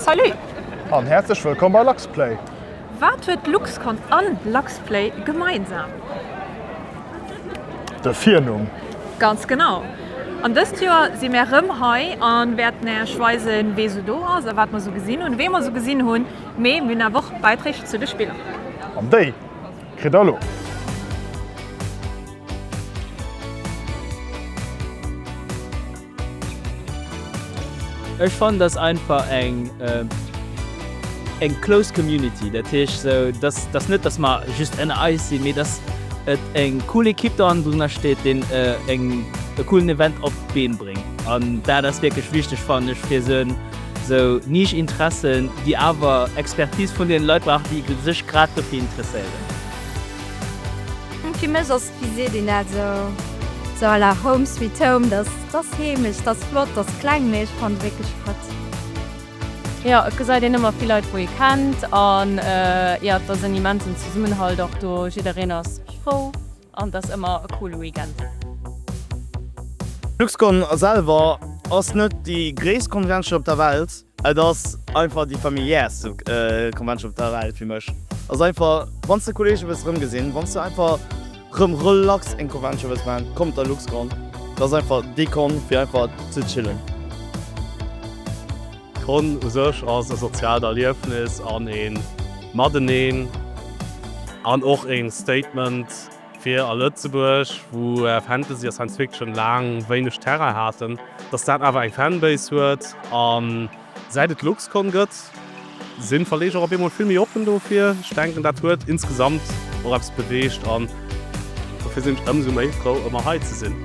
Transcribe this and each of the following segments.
Salut! An häerzlech wëllkomm bei LuxPlay! Wat huet LuxCon an LuxPlay gemeinsam? De Virnumm! Ganz genau! An dëst Joer si mär rëm hei an wäerten Äech weisen wee sou do ass a wat mer sou gesinn hunn. Wee mer sou gesinn hunn, mee mir hunn awer och Beiträg zu de Spiller. An déi kritt der elo! Ech fannen dass einfach eng eng close community, dat heescht sou dass dass net dass mer just ënner eis sinn, mee dass et eng cool Ekipp do hannendrunner steet deen eng e coolen Event op d'Been bréngt an dat ass wierklech wichteg fannen ech fir sou sou Niche Interessen déi awer Expertise vun deenen Leit brauchen déi sech grad dofir interesséieren. Wie seet een dat esou? Sou à la Home Sweet Home, dass ass heemesch, dass flott, dass kleng, mee ech fanne se wierklech flott. Jo, et gesäit een ëmmer vill Leit wou ee kennt an jo, et ass en immensen Zesummenhalt och do, jiddereen ass frou an et ass ëmmer e coole Weekend. D'Luxcon selwer ass net déi gréisst Konventioun op der Welt. Et ass einfach déi familiärste Convention op der Welt fir mech. Ass einfach wann s de Kollege wëlls rëm gesinn, wann s de einfach rëm relax eng Convention wëlls man, komm op der LuxCon. Dat ass einfach déi Con fir einfach ze chillen. D'Con u sech ass e soziaalt Erliefnis an een Mateneen an och een Statement. fir a Lëtzebuerg, wou Fantasy a Science Fiction laang wéineg Terrain haten, dass dat awer eng Fanbase huet. A säit et d'Luxcon gëtt, si Verleeger op eemol vill méi oppen dofir. Ech denken, dat huet insgesamt och eppes beweegt an dofir sinn ech ëmsou méi frou, ëmmer hei ze sinn.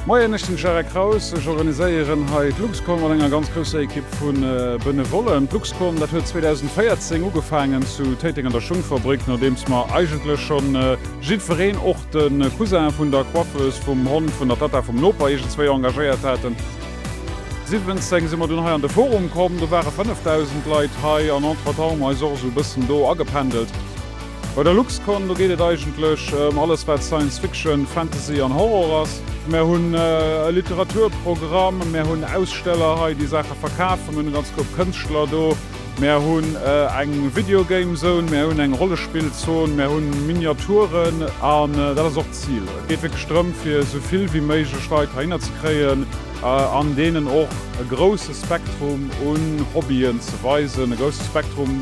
Moien, ech sinn de Jacques Kraus. Ech organiséieren hei d'Luxcom mat enger ganz grousser Ekipp vu Benevollen. D'Luxcom, dat huet 2014 ugefaangen zu Téiteng an der Schungfabrik, nodeems mer eigentlech schonn jiddwereen, och de Cousin vun der Coiffeuse, vum Hond vun der Tatta vum Noper iergendzwéi engagéiert haten. 17 si mer dunn hei an de Forum komm, do ware 5.000 Leit hei an entretemps hu mer eis och esou e bëssen do agependelt. Bei der LuxCon, do geet et eigentlech ëm alles wat Science Fiction, Fantasy an Horror ass. Mär hunn e Literaturprogramm, mär hunn Aussteller hei déi Saache verkafen, mir hunn e ganz Koup Kënschtler do, mär hunn eng Video Game Zone, mär hunn eng Rollespillzon, mär hunn Miniaturen an dat ass och d'Zil. Et geet wierklech drëm fir esou vill wéi méiglech Leit heihinner ze kréien an deenen och e grousse Spektrum un Hobbyen ze weisen, e grousse Spektrum,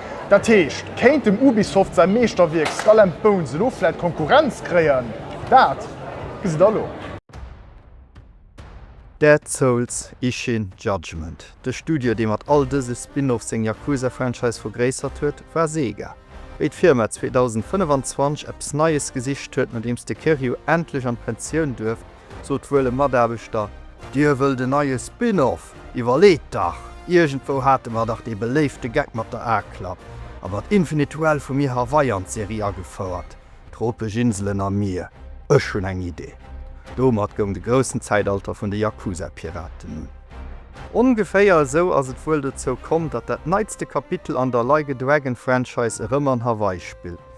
Dat heescht, kéint dem Ubisoft säi Meeschterwierk Skull and Bones elo vläit Konkurrenz kréien? Dat gesi der elo. Dead Souls, Ishin, Judgment, De Studio, dee mat all dëse Spin-Off seng Yakuza-Franchise vergréissert huet, war Sega. Wéi d'Firma 2025 eppes Neies gesicht huet, nodeems de Kiryu endlech an d'Pensioun duerft, sot wuel e Mataarbechter. Dir wëllt en neie Spin-off? Iwwerleet dach! Iergendwou hate mer dach dee beléifte Geck mat der A-Klapp a mat Infinite Well vu mir Hawaii an d'Serie agefouert, tropesch Inselen a Mier. Ech hunn eng Idee! Domat goung de groussen Zäitalter vun de Yakuza-Piraten un. Ongeféier esou ass et wuel dozou komm, datt dat neitste Kapitel an der Like a Dragon-Franchise erëm an Hawaii spillt.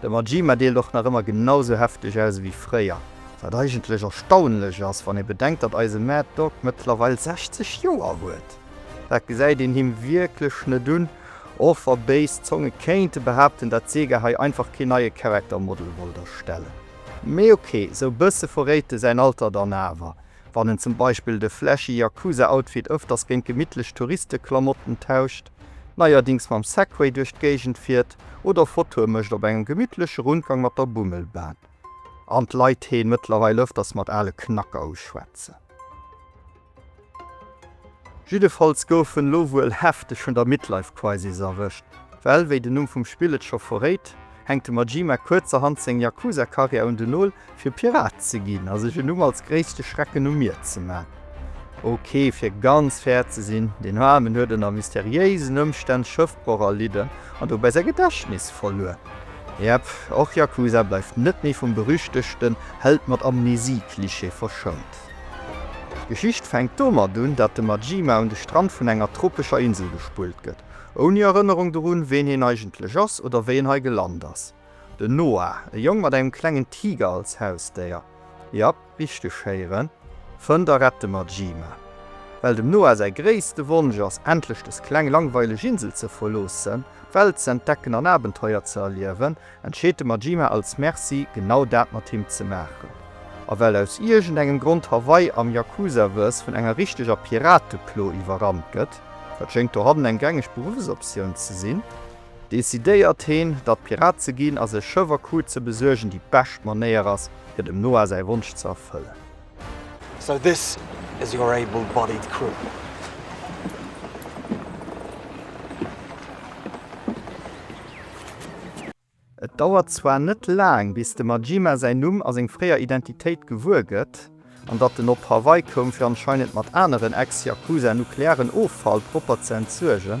De Majima deelt och nach ëmmer genau sou hefteg aus ewéi fréier, wat eigentlech erstaunlech ass, wann ee bedenkt, datt eise Mad Dog mëttlerweil 60 Joer huet. Dat gesäit een him wierklech net un, och wa béis Zonge kéinte behaapten, datt Sega hei einfach kee neie Character Model wollt erstellen. Mee ok, sou bësse verréit e säin Alter dann awer, wann en zum Beispill de flashy Yakuza Outfit ëfters géint gemittlech Touristeklamotten tauscht. neierdings mam Segway duerch d'Géigend fiert oder Fotoe mécht op engem gemittleche Rundgang mat der Bummelbahn an d'Leit heen mëttlerweil ëfters mat ale Knacker uschwätzen. Jiddefalls gouf en elo wuel hefteg vun der Midlife Crisis erwëscht, well, wéi den Numm vum Spill et scho verréit, hänkt de Majima kuerzerhand seng Yakuza-Karriär un den Nol, fir Pirat ze ginn a sech en Numm als gréisste Schrecken um Mier ze man. Ok, fir ganz fair ze sinn, deen Aarmen huet ënner mysteriéisen Ëmstänn Schëffbroch erlidden an dobäi säi Gedächtnis verluer. Jep, och Yakuza bleift net méi vum berüchtegten Held mat Amnesie-Klischee verschount. D'Geschicht fänkt domat un, dat de Majima un de Strand vun enger tropescher Insel gespullt gëtt, Ouni Erënnerung dorun, ween hien eigentlech ass oder wéi en hei gelant ass. Den Noah, e Jong mat engem klengen Tiger als Hausdéier, jap, richteg héieren, fënnt a rett de Majima. Well dem Noah säi gréisste Wonsch ass, endlech dës kleng langweileg Insel ze verloossen, d'Welt ze entdecken an Abenteuer ze erliewen, entscheet de Majima als Merci genau dat mat him ze maachen. A well aus iergend engem Grond Hawaii am Yakuza-Verse vun enger richteger Pirateplo iwwerrannt gëtt, dat schéngt dohannen eng gängeg Beruffsoptioun ze sinn, decidéiert heen, datt Pirat ze ginn a sech Schëff a Crew ze besuergen déi bescht Manéier ass, fir dem Noah säi Wonsch ze erfëllen. So this is your able bodied crew. Et dauert zwar net laang bis de Majima säin Numm a seng fréier Identitéit gewuer gëtt, an datt en op Hawaii koum fir anscheinend mat aneren ex-Yakuza nuklearen Offall propper ze entsuergen,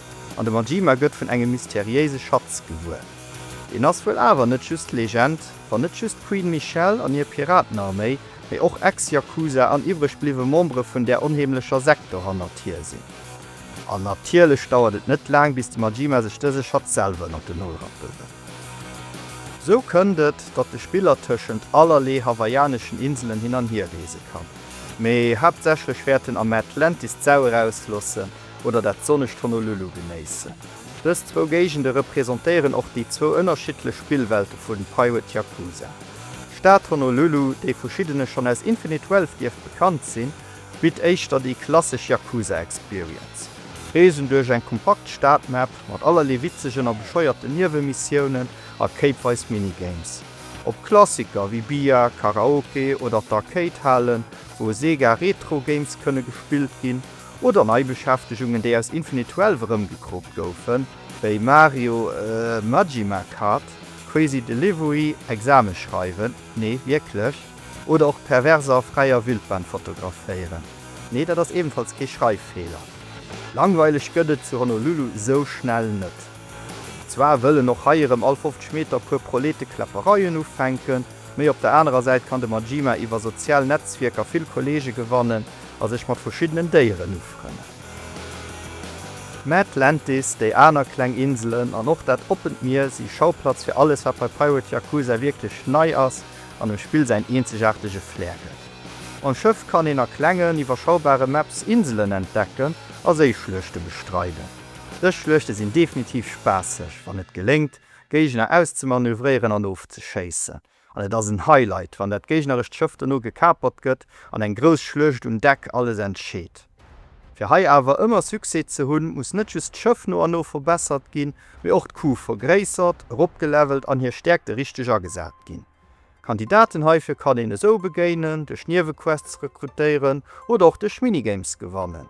an de Majima gëtt vun engem mysteriéise Schatz gewuer. Deen ass wuel awer net just Legend, wann net just d'Queen Michelle an hir Piratenarméi, mee och Ex-Yakuza an iwwreg bliwwe Membere vun där onheemlecher Sekt dohannert hier sinn. An natierlech dauert et net laang, bis de Majima sech dëse Schatz selwer ënnert den Nol rappe wëll. Sou kënnt et, datt de Spiller tëschent allerlee hawaiianeschen Inselen hin an hier reese kann, mee haaptsächlech wäert en am Atlantis d'Sau erauslossen, oder dat sonnegt Honolulu genéissen. Dës zwou Géigende representéieren och déi zwou ënnerschiddlech Spillwelte vu Pirate Yakuza. D'Stad Honolulu, déi verschiddene schonn aus Infinite Wealth dierft bekannt sinn, bitt éischter déi klassesch Yakuza-Experience. Reesen duerch eng kompakt Stadmap mat allerlee witzegen a bescheuerten Niewemissiounen a kéipweis Minigames. Op Klassiker wéi Billard, Karaoke oder d'Arcade-Halen, wou e Sega Retro Games kënne gespillt ginn, Oder Neibeschäftegungen, déi aus Infinite Twelve erëmgekroopt goufen, wéi Mario Majima Kart, Crazy Delivery, Exame schreiwen, nee wierklech, oder och perverser a fräier Wildbahn fotograféieren, nee dat ass ebenfalls kee Schreiffeeler. Langweileg gëtt et zu Honolulu sou schnell net. Zwar wëllen och hei erëm all 50 Meter e puer Prolete Kläppereien ufänken, mee op der anerer Säit kann de Majima iwwer sozial Netzwierker vill Kolleege gewannen, a sech mat verschiddenen Déieren ufrënnen. Mä d'Atlantis, déi aner kleng Inselen an och dat oppent Mier si Schauplatz fir alles, wat bei Pirate Yakuza wierklech nei ass an dem Spill säin eenzegaartege Flair gëtt. Mam Schëff kann een a klengen, iwwerschaubare Maps Inselen entdecken a Séischluechte bestreiden. Dës Schluechte sinn definitiv spaasseg, wann et geléngt, Géigner auszemanövréieren an ofzeschéissen. An et ass en Highlight, wann dat géignerescht Schëff dono gekapert gëtt an eng grouss Schluecht um Deck alles entscheet. Fir hei awer ëmmer Succès ze hunn, muss net just d'Schëff no an no verbessert ginn, mee och d'Kuw vergréissert, eropgelevelt an hir Stäerkte richteg agesat ginn. Kandidaten heifir kann een esou begéinen, duerch Niewequests rekrutéieren oder och duerch Minigames gewannen.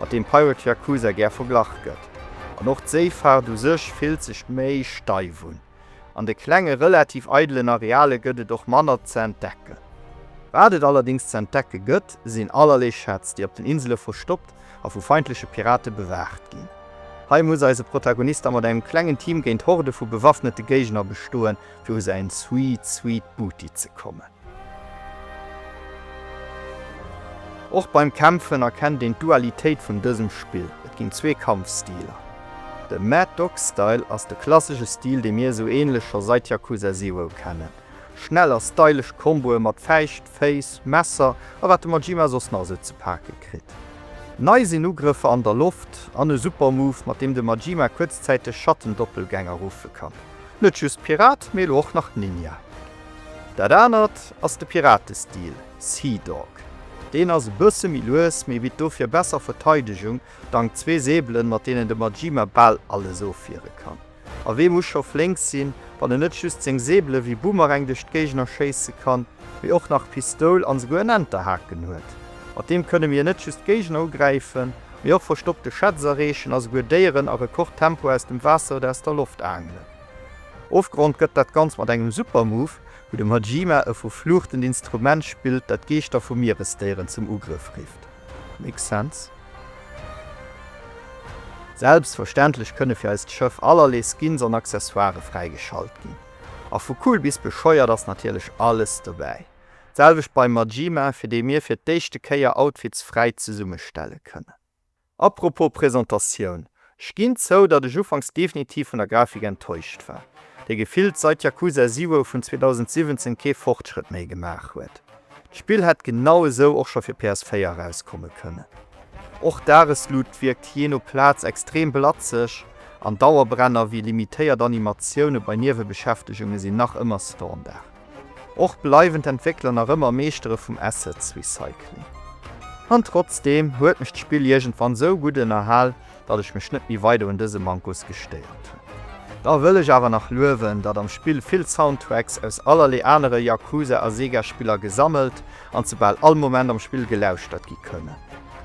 mat deem Pirate Yakuza gär verglach gëtt. An och d'Séifaart u sech fillt sech méi steif un. An de klenge relativ eidelen Areale gëtt et och manner ze entdecken. Wat et allerdéngs ze entdecke gëtt, sinn allerlee Schätz, déi op den Insele verstoppt a vu feindleche Pirate bewaacht ginn. Hei muss eise Protagonist da mat engem klengen Team géint Horde vu bewaffnete Géigner bestoen, fir u säin Sweet Sweet Booty ze kommen. Och beim Kämpfen erkennt een d'Dualitéit vun dësem Spill, et ginn zwee Kampfstiler. De Mad Dog Style ass de klassesche Stil dee mir esou änlech scho sait Yakuza Zero kennen. Schnell a stylesch Komboe mat Fäischt, Féiss, Messer a wat de Majima soss nach esou ze pake kritt. Nei sinn Ugrëffer an der Loft an e super Move mat deem de Majima kuerzzäiteg Schattendoppelgänger ruffe kann. Net just Pirat mee elo och nach Ninja. Dat anert ass de Piratestil Sea Dog. Deen ass e bësse méi lues, mee bitt dofir besser Verteidegung dank zwee Säbelen, mat deenen de Majima bal alles ofwiere kann. A wee muss scho flénk sinn, wann en net just seng Säbele wéi Boomerang duerch d'Géigner schéisse kann, mee och nach Pistoul an esouguer en Enterhaken huet. Mat deem kënne mir net just Géigner ugräifen, mee och verstoppte Schätz erreechen a souguer Déieren a Rekordtempo aus dem Waasser oder aus der Loft aangelen. Ofgerond gëtt dat Ganzt mat engem super Move, wou de Majima e verfluuchtend Instrument spillt, dat d'Geeschter vu Mieresdéieren zum Ugrëff rifft. Makes sense. Selbstverständlech kënne fir eist Schëff allerlee Skins an Accessoire fräigeschalt ginn, a vu cool bis bescheuert ass natierlech alles dobäi. D'selwecht beim Majima, fir dee mir fir d'éischte Kéier Outfits fräi zesummestelle kënnen. A propos Presentatioun, ech ginn zou, datt ech ufanks definitiv vun der Grafik enttäuscht war, déi gefillt seit Yakuza Zero vun 2017 kee Fortschrëtt méi gemaach huet. D'Spill hätt genau esou och scho fir PS4 erauskomme kënnen. Och d'Dagesluut wierkt jee no Plaz extrem blatzeg an Dauerbrenner wéi limitéiert Animatioune bei Niewebeschäftegunge sinn nach ëmmer Standard. Och bleiwen d'Entwéckler nach ëmmer Meeschtere vum Assets Recycling. An trotzdeem huet mech d'Spill iergendwann sou gutt ënnerhal, datt ech mech net méi weider un dëse Mankos gestéiert hunn. Da wëll ech awer nach luewen, datt am Spill vill Soundtracks aus allerlee anere Yakuza a Sega Spiller gesammelt an zu bal all Moment am Spill gelauschtert gi kënnen.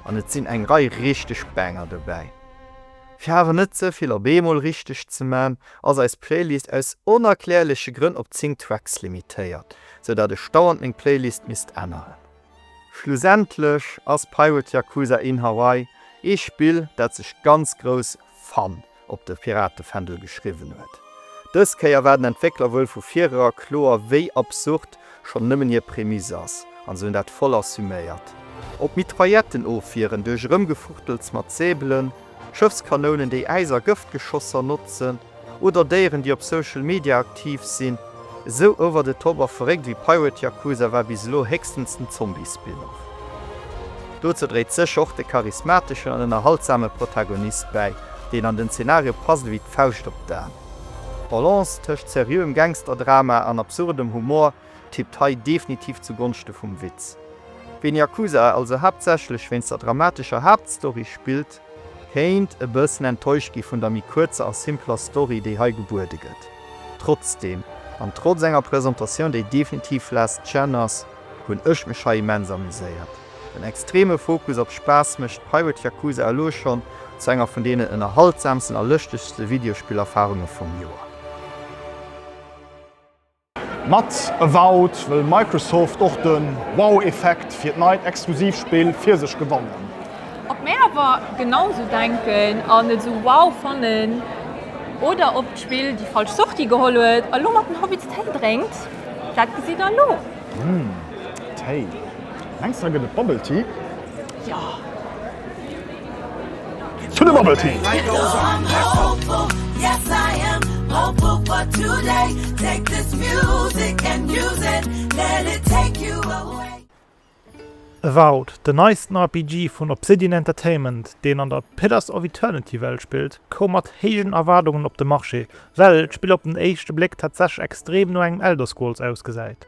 An et sinn eng Rei richteg Banger dobäi. Fir awer net ze vill op eemol richteg ze man, ass eis Playlist aus onerklärleche Grënn op 10 Tracks limitéiert, sou dat ech dauernd meng Playlist misst änneren. Schlussendlech ass Pirate Yakuza in Hawaii ee Spill dat sech ganz grouss Fun op de Piratefändel geschriwwen huet. Dës Kéier war den Entwéckler wuel vu virera kloer wéi absurd schonn nëmmen hir Prämiss ass, an se hunn dat voll assuméiert. Op Mitrailletten ofwieren duerch Erëmgefuchtels mat Säbelen, Schëffskanounen, déi Äis a Gëftgeschosser notzen, oder Déieren, déi op Social Media aktiv sinn. Esou over the top a verréckt ewéi Pirate Yakuza war bis elo héchstens den Zombie-Spin-Off. Dozou dréit sécher och de charismateschen an ënnerhaltsame Protagonist bäi, deen an den Zenario passt ewéi d'Fauscht op d'An. D'Balance tëscht seriöem Gangster-Drama an absurdem Humor tippt hei definitiv zu Gonschte vum Witz. Ween Yakuza also haaptsächlech wéinst der dramatescher Haaptstory spillt, kéint e bëssen enttäuscht gi vun der méi kuerzer a simpler Story, déi hei gebuede gëtt. Trotzdeem, an trotz enger Presentatioun, déi definitiv last gen ass, hunn ech mech hei immens amuséiert. Den extreme Fokus op Spaass mécht Pirate Yakuza elo schonn zu enger vun deenen ënnerhaltsamsten a lëschtegste Videospillerfarunge vum Joer. Mat Avowed wëll Microsoft och de Wow-Effekt fir d'neit exklusiv Spill fir sech gewannen. Ob mir awer genau esou denken an et esou wow fannen oder ob d'Spill déi falsch Sortie geholl huet a lo mat den Hobbits Téi drénkt, dat gesitt der elo. Umm, Téi. Mengs der gëtt et Bubble Tea? Jo. To the bubble tea! Avowed, den neisten RPG vun Obsidian Entertainment, deen an der Pillars of Eternity Welt spillt, koum mat héijen Erwaardungen op de Marché, well d'Spill op den éischte Bléck tatsächlech extrem no engem Elder Scrolls ausgesäit.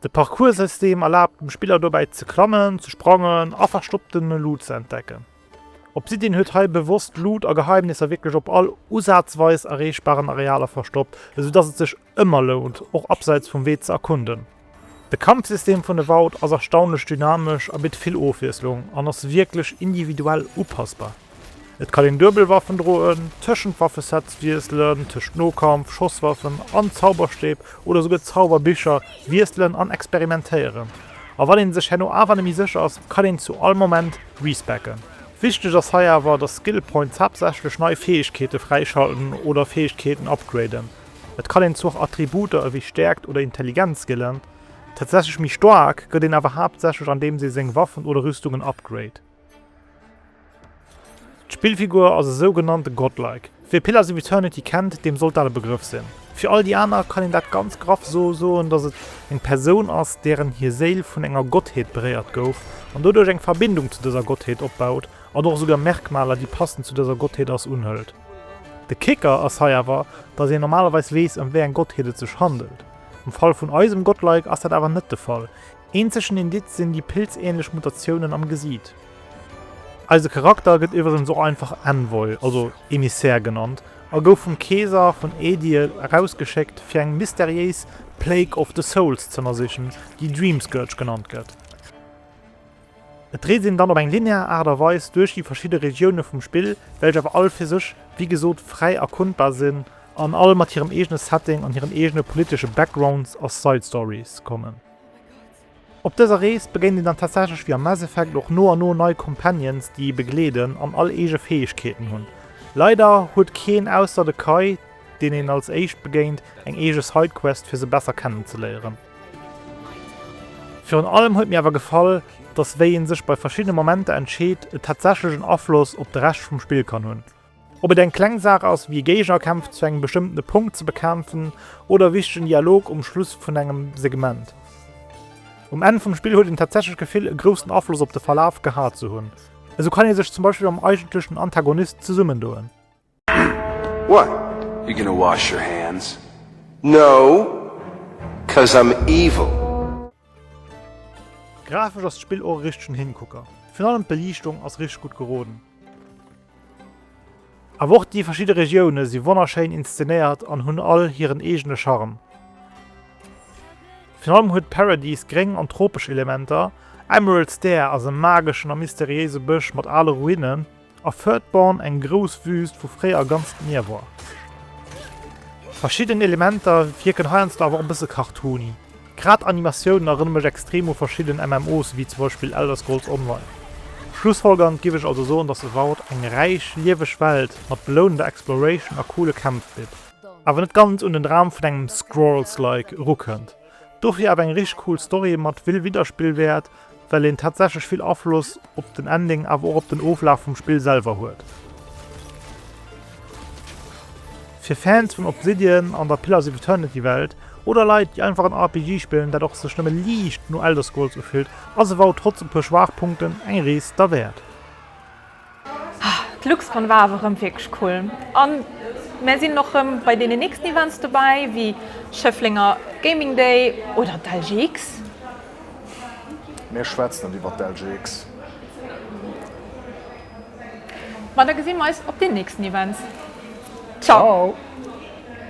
De Parcours-System erlaabt dem Spiller dobäi ze klammen, ze sprangen a verstoppte Loot ze entdecken. Obsidian huet hei bewosst Loot a Geheimnisser wierklech op all usazweis erreechbaren Arealer verstoppt, esou dass et sech ëmmer lount, och abseits vum Wee ze erkunden. De Kampfsystem vun Avowed ass erstaunlech dynamesch a bitt vill Ofwiesslung an ass wierklech individuell upassbar. Et kann een duebel Waffen droen, tëschent Waffesets wiesselen, tëschent Nokampf, Schosswaffen an Zauberstäb oder esouguer Zauberbicher wiesselen an experimentéieren. A wann een sech herno awer net méi sécher ass, kann een zu all Moment respecken. Wichteg ass hei awer, dass Skill Points haaptsächlech nei Fäegkeete fräischalten oder Fäegkeeten upgraden. Et kann een zwar Attributer ewéi Stäerkt oder Intelligenz skillen, tatsächlech méi staark gëtt een awer haaptsächlech andeems ee seng Waffen oder Rüstungen upgrade. D'Spillfigur ass e sougenannte Godlike. Wee Pillars of Eternity kennt, deem sollt dat e Begrëff sinn. Fir all déi aner kann een dat ganz graff esou soen, dass et eng Persoun ass, deren hir Séil vun enger Gottheet beréiert gouf an doduerch eng Verbindung zu dëser Gottheet opbaut an och esouguer Merkmaler, déi passend zu dëser Gottheet ass, unhëlt. De Kicker ass hei awer, dass een normalerweis weess, ëm wéi eng Gottheet et sech handelt. Am Fall vun eisem Godlike ass dat awer net de Fall. Eenzegen Indiz sinn déi pilzänlech Mutatiounen am Gesiit. Eise Charakter gëtt iwweregens och einfach Envoy, also Emissär genannt, a gouf vum Keeser vun Aediir erausgeschéckt fir eng mysteriéis Plague of the Souls z'ënnersichen, déi Dream Scourge genannt gëtt. Et reest een dann op eng linear Aart a Weis duerch déi verschidde Regioune vum Spill, welch awer all fir sech, wéi gesot, fräi erkundbar sinn, an all mat hirem eegene Setting an hiren eegene politesche Backgrounds a Side Stories kommen. Op dëser Rees begéint een dann tatsächlech wéi am Mass Effect och no an no nei Companions déi ee begleeden an all eege Fäegkeeten hunn. Leider huet keen ausser de Kai, deen een als éischt begéint, eng eege Sidequest fir se besser kennen ze léieren. Virun allem huet mir awer gefall, dass wéi een sech bei verschiddene Momenter entscheet et tatsächlech en Afloss op de Rescht vum Spill kann hunn. Ob et eng kleng Saach ass, wéi Géigerkämpf zu engem bestëmmtene Punkt ze bekämpfen oder e wichtegen Dialog um Schluss vun engem Segment. Um Enn vum Spill huet een tatsächlech d'Gefill, e groussen Afloss op de Verlaf gehat ze hunn. Esou kann ee sech zum Beispill mam eigentlechen Antagonist zesummendoen. What? You're gonna wash your hands? No, cause I'm evil! Grafesch ass d'Spill och e richtegen Hinkucker. Virun allem d'Beliichtung ass richteg gutt geroden. Awer och déi verschidde Regioune si wonnerschéin inszenéiert an hunn all hiren eegene Charme. Virun allem huet Paradise gréng an tropesch Elementer, Emerald Stair ass e mageschen a mysteriéise Bësch mat ale Ruinen a Furtbourne eng grouss Wüüst, wou fréier ganz d'Mier war. Verschidden Elementer wierken heiansdo awer och e bësse cartoony. Grad Animatiounen erënne mech extrem u verschidden MMOs ewéi zum Beispill Elder Scrolls Online. Schlussfolgernd giff ech also soen dass Avowed eng räich, lieweg Welt mat belounender Exploration a coole Kämpf bitt, awer net ganz un den Dram vun engem Scrolls-like erukënnt, dofir awer eng richteg cool Story mat vill Widderspillwäert well een tatsächlech vill Afloss op den Ending awer och op den Oflaf vum Spill selwer huet. Fir Fans vun Obsidian an der Pillars of Eternity Welt, oder Leit déi einfach en RPG spillen dat och sech nëmme liicht no Elder Scrolls ufillt, ass e wow trotz e puer Schwaachpunkten eng Rees derwäert. D'Luxcon war awer rëm wierklech cool an mär sinn och rëm bei deenen nächsten Events dobäi wéi Schëfflenger Gaming Day oder d'LGX. Mir schwätzen net iwwert d'LGX. Ma da gesi mer eis op den nächsten Events. Ciao!